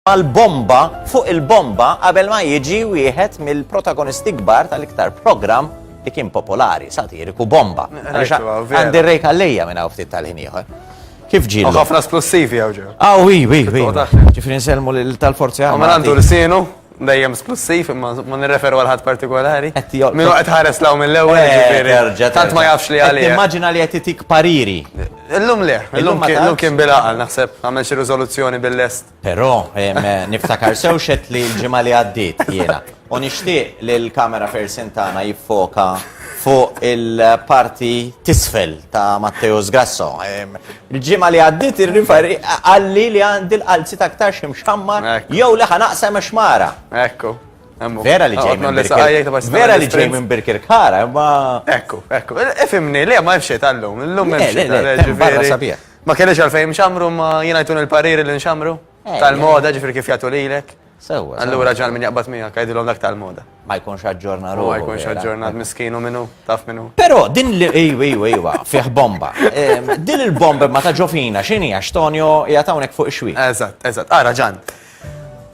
mal-bomba fuq il-bomba qabel ma jiġi wieħed mill-protagonisti kbar tal-iktar programm li kien popolari, satiriku bomba. Għandi rejk għallija minna uftit tal-ħin ieħor. Kif ġil? ħafna splussivi għaw ġew. Aw, wi, wi, wi. Ġifri nselmu tal-forzi għamma. Ma għandu l-sinu, dejjem splussiv, ma nirreferu għal-ħat partikolari. Minu għet ħares law mill-ewel, eh, ġifri. Tant ma jafx li għalli. Immaġina li għet itik pariri. Eh, Illum le, illum kien bil-għaqal, naħseb, għamel xi riżoluzzjoni bil-lest. Però, niftakar sewxet li l-ġimgħa li għaddiet jiena. U nixtieq li l-kamera fersin tagħna jiffoka fuq il-parti tisfel ta' Matteo Sgrasso. Il-ġimgħa li għaddiet ir-riferi għalli li għandi l-qalzi ta' aktar xi mxammar jew li ħanaqsem xmara. Ekku. Vera li ġej minn Birkirkara. Vera li ġej minn Birkirkara, ma. Ekku, ekku. Ifimni, le, ma jfxie tal-lum. L-lum ma jfxie tal-lum. Ma kellix għalfejn xamru, ma jina jtun il-pariri li nxamru. Eh, tal-moda, ġifri kif jgħatu lilek. Sewa. Allura ġan minn jaqbat mija, kajdilom dak tal-moda. Ma jkunx aġġorna ruħu. Ma jkunx aġġorna miskinu minnu, taf minnu. Pero, din li, ejwa, ejwa, ejwa, fiħ bomba. Din il-bomba ma ta' ġofina, xini, għax Tonio jgħatawnek fuq ixwi. Eżat, eżat, għara ġan.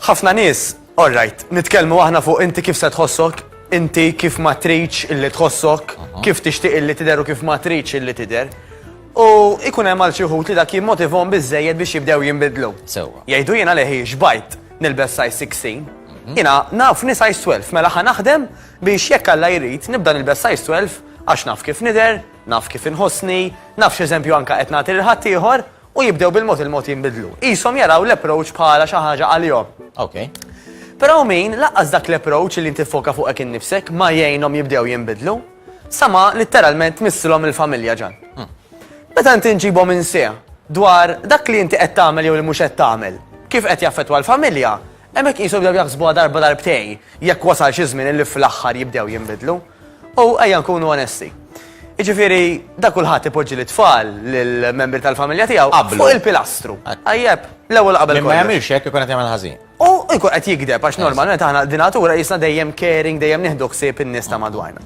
ħafna nis All right, nitkellmu aħna fuq inti kif se tħossok, inti kif ma tridx illi tħossok, kif tixtieq illi tidher u kif ma tridx illi tidher. U ikun hemm għal xi wħud li dak jimmotivhom biżejjed biex jibdew jinbidlu. Sewwa. Jgħidu jiena leħi xbajt nilbes size 16. Jiena naf ni size 12 mela ħa naħdem biex jekk Alla jrid nibda nilbes size 12 għax naf kif nidher, naf kif inħossni, naf x'eżempju anke qed nagħti lil ħaddieħor u jibdew bil-mod il-mod jinbidlu. Qishom jaraw l-approach bħala xi ħaġa għalihom. Ok. Però hawn min laqqas dak l-approach li inti ffoka fuqek innifsek ma jgħinhom jibdew jinbidlu, sa ma litteralment tmissilhom il-familja ġan. Hmm. Meta inti nġibhom insejħ dwar dak li inti qed tagħmel jew li mhux qed tagħmel, kif qed jaffettwa l-familja, hemmhekk qishom jibdew jaħsbuha darba darbtej jekk wasal xi żmien li fl-aħħar jibdew jinbidlu. U ejja nkunu onesti. Iġifiri, da kulħadd ipoġġi l-tfal lill-membri tal-familja tiegħu Qablu. fuq il-pilastru. Ajjeb, l-ewwel qabel Min ma kollox. jagħmilx hekk ikun qed jagħmel ħażin. U jkun qed jikdeb għax normalment aħna dinatura jisna dejjem caring, dejjem nieħdu ħsieb in-nies ta' madwarna.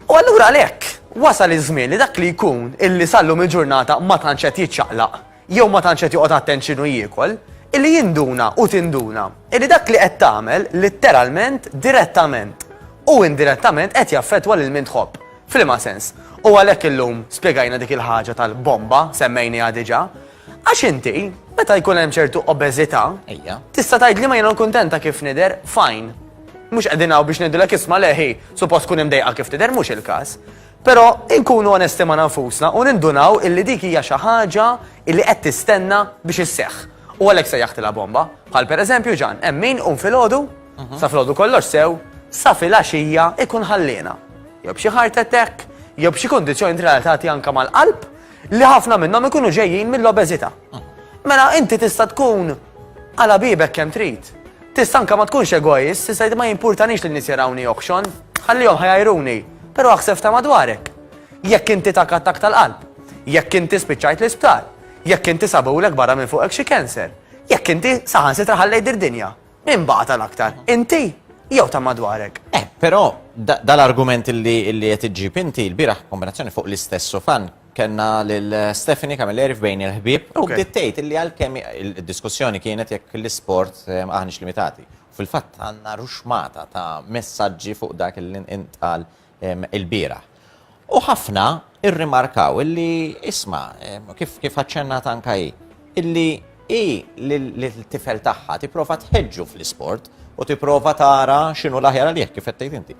U allura għalhekk wasal iż-żmien li dak li jkun illi sallum il-ġurnata ma tantx qed jiċċaqlaq jew ma tantx qed joqgħod attent x'inhu jiekol, illi jinduna u tinduna illi dak li qed tagħmel litteralment, direttament u indirettament qed jaffettwa lil min tħobb. F'liema sens? U għalhekk illum spjegajna dik il-ħaġa tal-bomba semmejniha diġà. Għax inti, meta jkun hemm ċertu obeżità, tista' tgħid li ma jiena kuntenta kif nidher, fajn. Mhux qegħdin hawn biex ngħidulek isma' leħi, suppost tkun imdejqa kif tidher, mhux il-każ. Però inkunu onesti ma' nfusna u nindunaw illi dik hija xi ħaġa illi qed tistenna biex isseħħ. U għalhekk sejjaħtilha bomba. Bħal per eżempju Ġan, hemm min iqum filgħodu, sa filgħodu kollox sew, sa filgħaxija ikun ħalliena. Jew b'xi heart attack, jew b'xi kundizzjoni relatati anke mal-qalb, li ħafna minnhom ikunu ġejjin mill-obeżità. Mela inti tista' tkun għala bibek kemm trid. Tista' anke ma tkunx egoist, tista' ma jimpurtanix li nies jarawni oħxon, ħallihom ħajajruni, però aħseb ta' madwarek. Jekk inti tak attakk tal-qalb, jekk inti spiċċajt l-isptar, jekk inti sabulek barra minn fuqek xi cancer, jekk inti saħansitra ħallejt d-dinja, min baqa' tal-aktar? Inti jew ta' madwarek? Eh, però dal-argument li qed iġġib inti l-bieraħ kombinazzjoni fuq l-istess sofan Kellna lil Stephanie Camilleri f'Bejn il-Ħbieb u bdiet tgħid illi għalkemm id-diskussjoni kienet jekk l-isport aħniex limitati. Fil-fatt għandna ruxmata ta' messaġġi fuq dak li ntqal il-bieraħ. U ħafna rrimarkaw illi isma' kif kif aċċennat anke hi illi hi lill-tifel tagħha tipprova tħeġġu fl-isport u tipprova tara x'inhu l-aħjar għalih kif qed tgħid inti.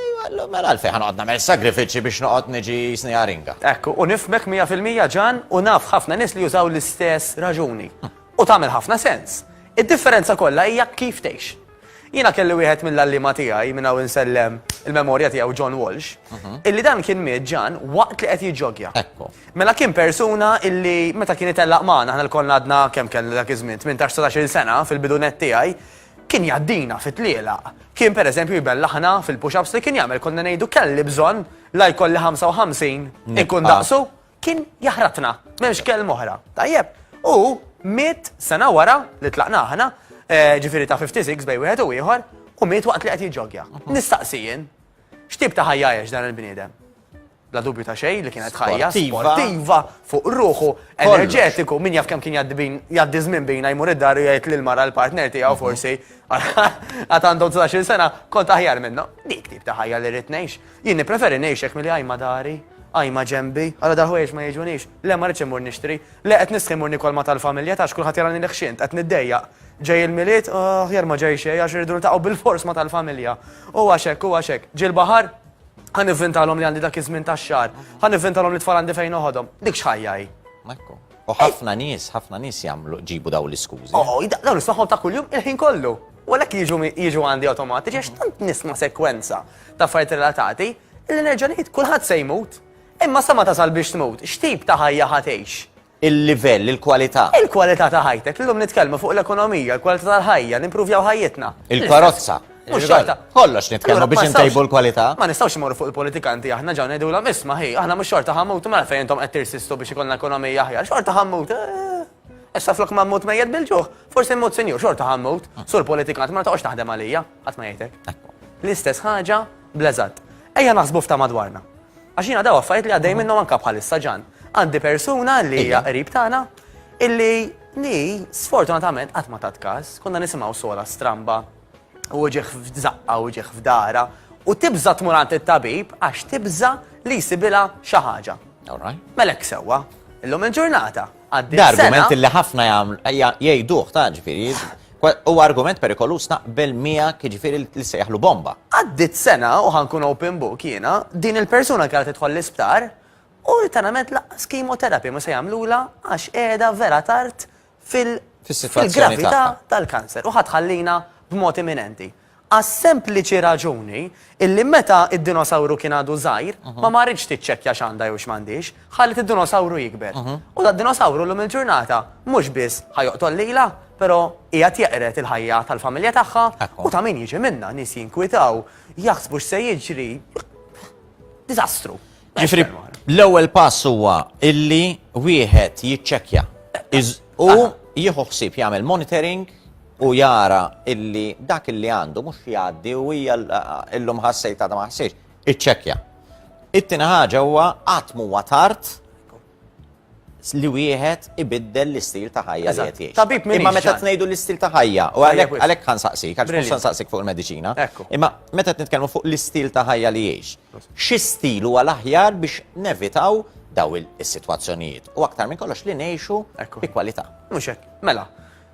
Ejwa, mela għalfejn ħa noqgħod nagħmel sagrifiċċji biex noqgħod niġi jisni aringa? Hekk hu, u nifhmek mija fil-mija Ġan u naf ħafna nies li jużaw l-istess raġuni. U tagħmel ħafna sens. Id-differenza kollha hija kif tgħix. Jiena kelli wieħed mill-għalliema tiegħi, minn hawn insellem il-memorja tiegħu John Walsh, illi dan kien miet Ġan waqt li qed jiġġogja. Ekku. Mela kien persuna illi meta kien itellaq magħna aħna lkoll għadna kemm kellna dak iż-żmien 18-19 sena fil-bidunet tiegħi, Kien jgħaddina fi tlielaq. Kien per eżempju jbellaħna fil-push-ups li kien jagħmel konna ngħidu kelli bżonn la jkolli 55 ikun daqsu. Kien jaħratna, m'hemmx kelma oħra. Tajjeb. U miet sena wara li tlaqna aħna, eh, ġifieri ta' 56 bej wieħed u ieħor, u miet waqt li qed jiġġogja. Nistaqsijin, x'tip ta' ħajja dan il-bniedem? bla dubju ta' xejn, li kienet ħajja sportiva fuq ruħu, enerġetiku, min jaf kemm kien jgħaddi żmien bina jmur id-dar u jgħid lil mara l-partner tiegħu mhm. forsi għad għandhom 19 sena kont aħjar minnu. Dik tip ta' ħajja li rrid ngħix. Jien nippreferi ngħixek milli għajma dari, għajma ġembi, għala darħwejx ma jiġunix, le ma rridx imur nixtri, le qed nisħi mur nikol ma tal-familja tax kulħadd jarani li ħxint, qed niddejjaq. Ġej il-miliet, aħjar ma ġej xejn għax irridu bil-fors ma tal-familja. U għaxek, u għaxek, ġil-baħar, Ħa nivvintalhom li għandi dak iż-żmien tax-xahar. Ħa nivvintalhom li tfal għandi fejn oħodhom. Dik x'ħajja hi. Ekku. U ħafna nies, ħafna nies jagħmlu ġibu daw l-iskużi. Oh, daw nismagħhom ta' kuljum il-ħin kollu. U għalhekk jiġu jiġu għandi awtomatiċi għax tant nisma' sekwenza ta' affarijiet relatati li nerġa' ngħid kulħadd se jmut. Imma sa ma tasal biex tmut, x'tip ta' ħajja ħatejx? il-livell, il-kwalità. Il-kwalità ta' ħajtek. Illum nitkellmu fuq l-ekonomija, l-kwalità tal-ħajja, nimpruvjaw ħajjitna. Il-karozza. Mhux xorta. Kollox nitkellmu biex intejbu l-kwalità. Ma nistgħux imorru fuq il-politikanti aħna ġew ngħidulhom isma' ħi, aħna mhux xorta ħammut mela fejn intom qed tirsistu biex ikollna ekonomija aħjar, xorta ħammut. Eh, issa flok ma mmut mejjed bil-ġuħ, forsi mmut sinjur xorta ħammut, ah. sur politikant ma taqgħodx taħdem għalija, qatt ma jgħidlek. L-istess ħaġa bleżat. Ejja naħsbu f'ta' madwarna. Għax jiena daw affarijiet li għaddej minnhom anke bħalissa ġan. Għandi persuna li hija qrib tagħna illi li sfortunatament qatt ma tat każ, konna nisimgħu sola stramba u ġieħ f'żaqqa u ġieħ f'dara u tibża tmur għand it-tabib għax tibża li jsibilha xi ħaġa. Melek sewwa, illum il-ġurnata għaddiet sena. Argument li ħafna jgħiduh ta' ġifieri. U argument perikolus naqbel mija ġifieri li sejħlu bomba. Għaddit sena u ħankun open book jiena, din il-persuna kienet tidħol l-isptar u ritanament laqqas kimoterapi ma se jagħmlula għax qiegħda vera tard fil-gravità tal-kanser u ħatħallina b'mod imminenti. Għas-sempliċi raġuni illi meta d-dinosawru kien għadu żgħir, ma marritx tiċċekkja x'għandha jew x'm'għandhiex, ħallet id-dinosawru jikber. U dad-dinosawru llum il-ġurnata mhux biss ħa joqtol lilha, però qiegħed jeqred il-ħajja tal-familja tagħha u ta' min jiġi minnha. Nies jinkwitaw, jaħsbu x'se jiġri. Diżastru. Ġifri, l-ewwel pass huwa illi wieħed jiċċekkja u jieħu ħsieb jagħmel monitoring u jara illi dak illi għandu mhux jgħaddi u hija illum ħassejt għadha ma ħassejx, iċċekkja. It-tieni ħaġa huwa qatt huwa tard li wieħed ibiddel l-istil ta' ħajja li qed jgħix. Tabib minn Imma meta tnejdu l-istil ta' ħajja, u għalhekk għalhekk ħan saqsik, għax mhux saqsik fuq il-mediċina. Imma meta nitkellmu fuq l-istil ta' ħajja li jgħix, xi stil huwa l-aħjar biex nevitaw daw is-sitwazzjonijiet u aktar minn kollox li ngħixu bi kwalità. Mhux hekk. Mela,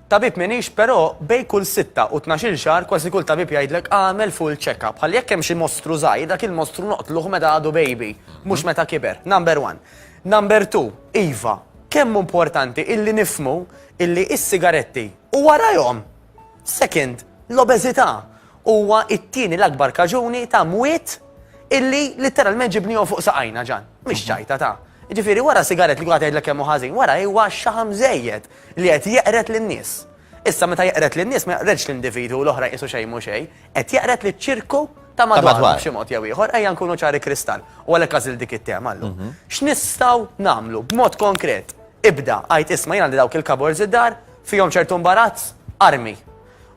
Tabib m'iniex però bejn kull sitta u tnax-il xahar kważi kull tabib jgħidlek agħmel full check-up. Bħal jekk hemm xi mostru żgħir dak il-mostru noqtluh meta għadu baby, mhux meta kiber. Number one. Number two, iva, kemm hu importanti illi nifhmu illi is-sigaretti u warajhom, second, l-obeżità huwa t-tieni l-akbar kaġuni ta' mwiet illi litteralment ġibniehom fuq saqajna ġan. Mhix ċajta ta'. Jiġifieri wara sigarett li kulħadd jgħidlek kemm hu ħażin, wara huwa x-xaħam żejjed. li qed jeqred lin-nies. Issa meta jeqred lin-nies ma jaqredx l-individwu u l-oħrajn qisu xejn mhu xejn, qed jeqred liċ-ċirku ta' madwaru b'xi mod jew ieħor, ejja nkunu ċari kristall, u għalhekk għażilt dik it-tema llum. X'nistgħu nagħmlu b'mod konkret? Ibda, għid isma' jien għandi dawk il-cupboards id-dar, fihom ċertu mbarazz, armi.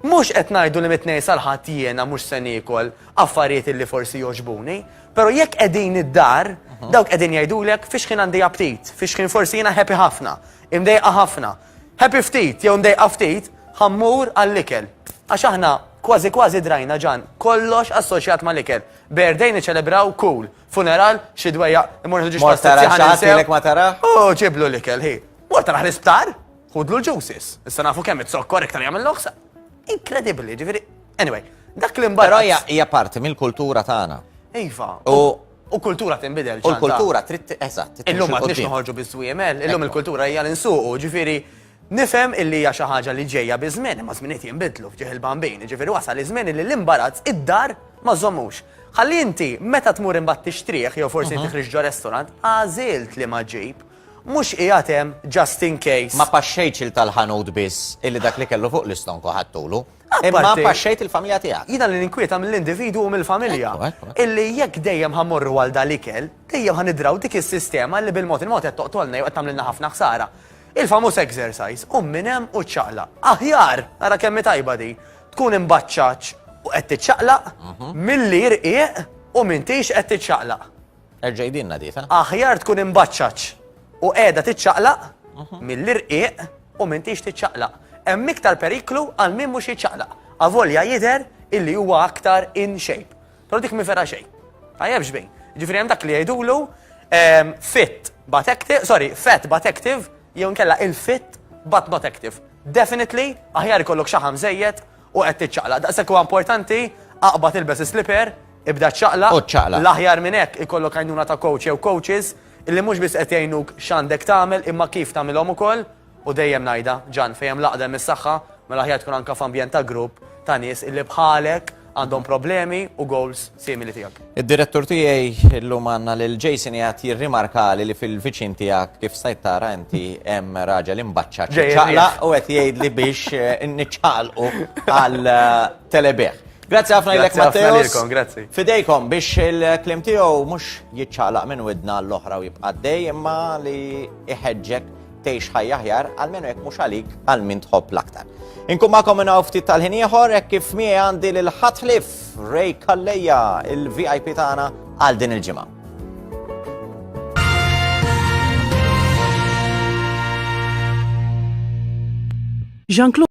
Mhux qed ngħidu li mit-Tnejn sal-Ħadd jiena mhux se niekol affarijiet li forsi jogħġbuni, però jekk qegħdin id-dar, dawk qegħdin jgħidulek fiex ħin għandi aptit, fiex ħin forsi jiena happy ħafna, Imdejqa ħafna. Happy ftit jew mdejqa ftit, ħa mmur għall-ikel. Għax aħna kważi kważi drajna Ġan, kollox assoċjat mal-ikel. Birthday niċċelebraw, cool. Funeral, xi dwejjaq, immur nieħdu ġiex Mort tara pastettijiet ħa xi ħadd ninsew. ilek ma tarah? U ġiblu l-ikel, hi. Mort taraħ l-isptar, ħudlu l-juices. Issa nafu kemm it-zokkor iktar jagħmel l-oħsa. Inkredibbli, ġifieri. Anyway, dak li Però mbagħad. hija hija parti mill-kultura tagħna. Iva. U U kultura tinbidel. U l-kultura trid eżatt. Illum ma tridx noħorġu biż-żwiemel, illum il-kultura hija l-insuqu, ġifieri Nifhem illi hija xi ħaġa li ġejja bi żmien, imma żminijiet jinbidlu f'ġieħ il-bambin, ġifieri wasal iż-żmien li l-imbarazz id-dar ma żommux. Ħalli inti meta tmur imbagħad tixtrih jew forsi inti ħriġ ġo restaurant, għażilt li ma ġib, mhux qiegħed hemm just in case. Ma paxxejtx il tal-ħanut biss illi dak li kellu fuq l-istonku ħadtulu. Imma Apparti- paxxejt il-familja tiegħek. Jiena li ninkwieta mill-individwu u mill-familja. Ekku, ekku, ekku. Illi jekk dejjem ħa mmorru għal dal-ikel, dejjem ħa nidraw dik is-sistema li bil-mod il-mod qed toqtolna jew qed tagħmlilna ħafna ħsara. Il-famuż exercise, qum minn hemm u ċċaqlaq. Aħjar, ara kemm hi tajba di, tkun imbaċċaċ u qed tiċċaqlaq milli rqiq u m'intix qed tiċċaqlaq. Erġa' jdienna di, ta? Aħjar tkun imbaċċaċ u qiegħda tiċċaqlaq milli rqiq u m'intix tiċċaqlaq. Hemm iktar periklu għal min mhux jiċċaqlaq, avolja jidher illi huwa aktar in shape. Però dik mi vera xejn. Tajjeb xbejn. Ġifieri hemm dak li jgħidulu ehm, fit but active, sorry, fat but active, jew nkella il-fit but not active. Definitely, aħjar ikollok xaħam żejjed u qed tiċċaqlaq. Daqshekk huwa importanti, aqbad ilbes is-slipper, ibda ċċaqlaq. U ċċaqlaq. L-aħjar minn hekk ikollok għajnuna ta' coach jew coaches illi mhux biss qed jgħinuk x'għandek tagħmel imma kif tagħmilhom ukoll u dejjem ngħidha, Ġan, fejn hemm l-għaqda hemm is-saħħa, mela aħjar tkun anke f'ambjent ta' grupp ta' nies illi bħalek għandhom problemi u goals simili tiegħek. Id-direttur tiegħi llum għandna lil Jason qiegħed jirrimarkali li fil-viċin tiegħek kif stajt tara inti hemm raġel imbaċċa ċaqla u qed jgħidli biex eh, niċċaqlqu għal eh, telebeħ. Grazzi ħafna ilek Matteus. Grazzi. Fidejkom biex il-klim tiegħu mhux jiċċaqlaq minn widna l-oħra u jibqa' dej imma li iħeġġek tgħix ħajja aħjar, għalmenu jekk mhux għalik għal min tħobb l-aktar. Inkun magħkom minn ftit tal-ħin ieħor hekk kif miegħi għandi lil ħatħlif Ray Kalleja il-VIP tagħna għal din il-ġimgħa. Jean-Claude